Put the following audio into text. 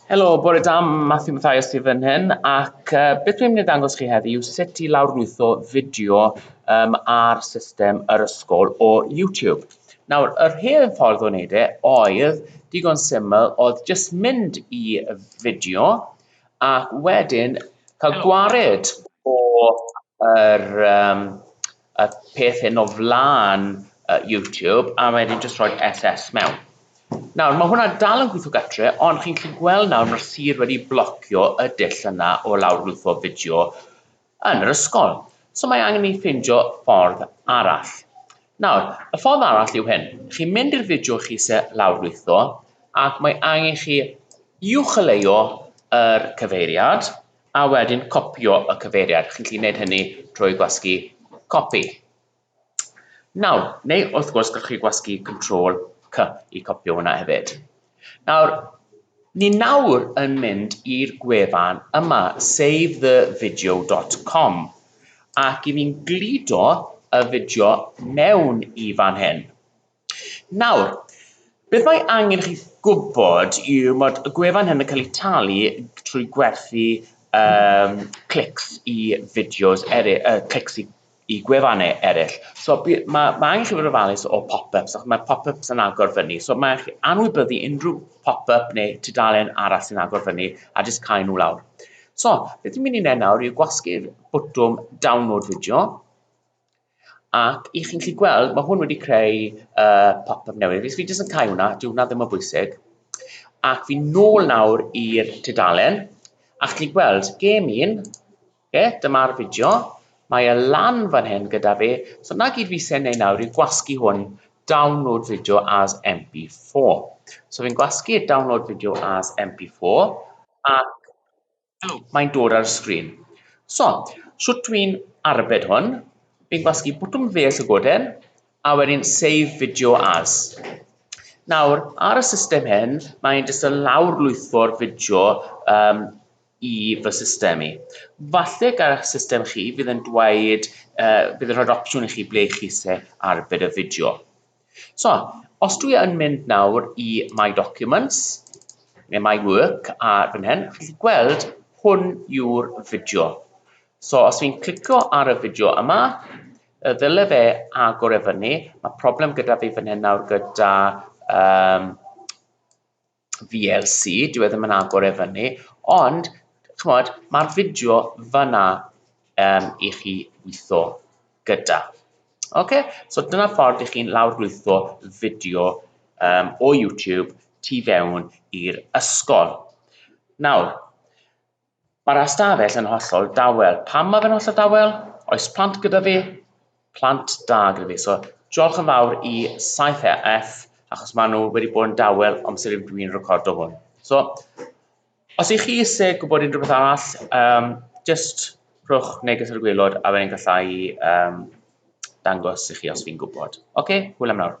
Helo, bore da, Matthew Mathias sydd yn hyn, ac uh, beth dwi'n mynd i ddangos chi heddi yw sut i lawrlwytho fideo um, ar system yr ysgol o YouTube. Nawr, yr hen ffordd o wneud e oedd digon syml, oedd jyst mynd i fideo ac wedyn cael gwared o'r um, y peth hyn o flan uh, YouTube a wedyn jyst rhoi SS mewn. Nawr, mae hwnna dal yn gweithio gatre, ond chi'n gallu gweld nawr mae'r sir wedi blocio y dull yna o lawrlwytho fideo yn yr ysgol. So mae angen ni ffindio ffordd arall. Nawr, y ffordd arall yw hyn. Chi'n mynd i'r fideo chi se lawrlwytho, ac mae angen chi uwcholeuo yr cyfeiriad, A wedyn copïo y cyfeiriad, chi'n gallu gwneud hynny trwy gwasgu copy. Nawr, neu wrth gwrs gallwch chi gwasgu Control C i copïo hwnna hefyd. Nawr, ni nawr yn mynd i'r gwefan yma, savethevideo.com, ac i ni'n gludo y fideo mewn i fan hyn. Nawr, beth mae angen chi gwybod yw mod y gwefan hyn yn cael ei talu trwy gwerthu um, clics i fideos eraill, uh, clics i, i gwefannau eraill. So mae ma angen chi fod yn ofalus o pop-ups, achos mae pop-ups yn agor fyny. So mae chi anwybyddu unrhyw pop-up neu tudalen arall sy'n agor fyny a jyst cael nhw lawr. So, beth dwi'n mynd i wneud nawr yw gwasgu'r bwtwm download fideo. Ac i chi'n gallu gweld, mae hwn wedi creu uh, pop-up newydd. Fi jyst yn cael hwnna, dyw hwnna ddim o bwysig. Ac fi'n nôl nawr i'r tudalen, a chi'n gweld, gêm un, okay, dyma'r fideo, mae e lan fan hyn gyda fi, so na gyd fi sy'n neud nawr yw gwasgu hwn, download video as MP4. So fi'n gwasgu download video as MP4, ac mae'n dod ar y sgrin. So, shwt dwi'n arbed hwn, fi'n gwasgu bwtwm ddeall y goden, a wedyn save video as. Nawr, ar y system hyn, mae'n jyst yn lawr lwytho'r fideo um, i fy system i. Falle gael eich system chi fydd yn dweud, uh, bydd yn rhoi'r opsiwn i chi ble chi se arbed y fideo. So, os dwi yn mynd nawr i My Documents, neu My Work, a fan hyn, chi'n gallu gweld hwn yw'r fideo. So, os fi'n clicio ar y fideo yma, y ddyle fe agor e fyny, mae problem gyda fi fan hyn nawr gyda um, VLC, dyw e ddim yn agor e fyny, ond chimod, ma'r fideo fan'na yym i chi witho gyda. Ocê, so dyna ffordd i chi'n lawrlwytho fideo yym o YouTube tu fewn i'r ysgol. Nawr, Mae'r ystafell yn hollol dawel. Pam mae fe'n hollol dawel? Oes plant gyda fi? Plant da gyda fi. So, diolch yn fawr i 7EF, achos maen nhw wedi bod yn dawel amser i dwi'n recordo hwn. So, os i chi eisiau gwybod unrhyw beth arall, um, just rhwch neges ar y gwylod a fe'n gallai um, dangos i chi os fi'n gwybod. Oce, okay, hwyl am nawr.